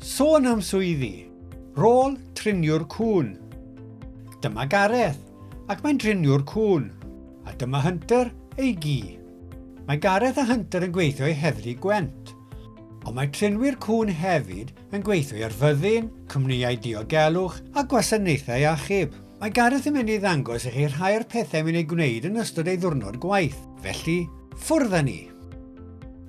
Sôn am swyddi, rôl triniwr cŵn. Dyma Gareth, ac mae'n driniwr cŵn, a dyma Hunter, ei gi. Mae Gareth a Hunter yn gweithio i Heddlu Gwent, ond mae trinwyr cŵn hefyd yn gweithio i'r fyddin, cwmnïau diogelwch a gwasanaethau achub. Mae Gareth yn mynd i ddangos i chi rhai o'r pethau mae'n ei gwneud yn ystod ei ddwrnod gwaith, felly ffwrdd â ni!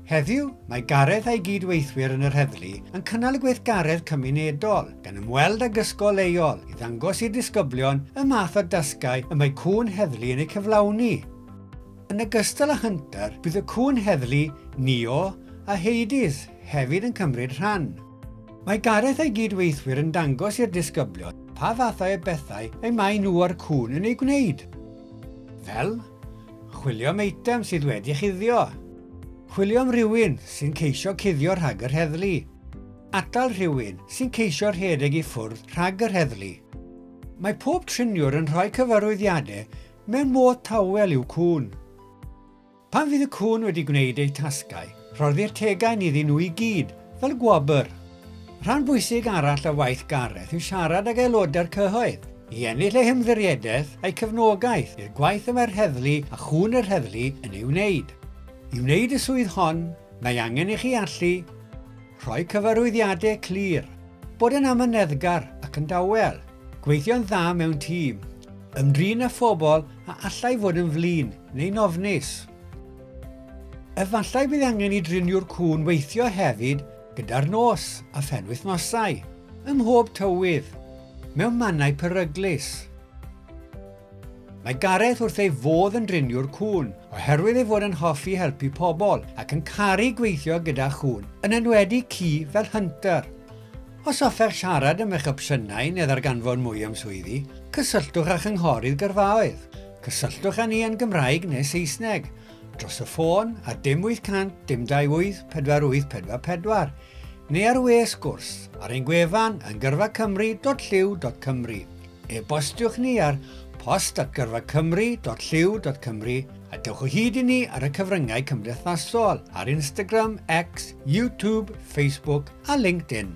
Heddiw, mae Gareth a'i gyd-weithwyr yn yr heddlu yn cynnal gweithgaredd cymunedol, gan ymweld ag ysgol leol i ddangos i'r disgyblion y math o dasgau y mae cŵn heddlu yn eu cyflawni. Yn ogystal â Hunter, bydd y cŵn heddlu Neo a Hades hefyd yn cymryd rhan. Mae Gareth a'i gyd-weithwyr yn dangos i'r disgyblion pa fathau o bethau y maen nhw a'r cŵn yn eu gwneud, fel chwilio am eitem sydd wedi chuddio, chwilio am rywun sy'n ceisio cuddio rhag yr heddlu, atal rhywun sy'n ceisio rhedeg i ffwrdd rhag yr heddlu. Mae pob triniwr yn rhoi cyfarwyddiadau Mewn modd tawel yw cŵn. Pan fydd y cŵn wedi gwneud eu tasgau, rhoddir tegain iddyn nhw i gyd, fel gwobr. Rhan bwysig arall o waith Gareth yw siarad ag aelodau'r cyhoedd, i ennill eu hymddiriedaeth a'u cefnogaeth i'r gwaith y mae'r heddlu a chŵn yr heddlu yn ei wneud. I wneud y swydd hon, mae angen i chi allu. Rhoi cyfarwyddiadau clir. Bod yn amyneddgar ac yn dawel. Gweithio'n dda mewn tîm. Ymdrin â phobl a allai fod yn flin neu'n ofnus. Efallai bydd angen i driniwr cŵn weithio hefyd gyda'r nos a phenwythnosau, ym mhob tywydd, mewn mannau peryglus. Mae Gareth wrth ei fodd yn driniwr cŵn, oherwydd ei fod yn hoffi helpu pobl ac yn caru gweithio gyda chŵn, yn enwedig ci fel Hunter. Os hoffech siarad am eich opsiynau neu ddarganfod mwy am swyddi, cysylltwch â Chynghorydd Gyrfaoedd. Cysylltwch â ni yn Gymraeg neu Saesneg, dros y ffôn ar dim 800 dim 28 4844 neu ar we sgwrs ar ein gwefan yn gyrfacymru.llyw.cymru. E-bostiwch ni ar post@gyrfacymru.llyw.cymru a dewch o hyd i ni ar y cyfryngau cymdeithasol ar Instagram, X, YouTube, Facebook a LinkedIn.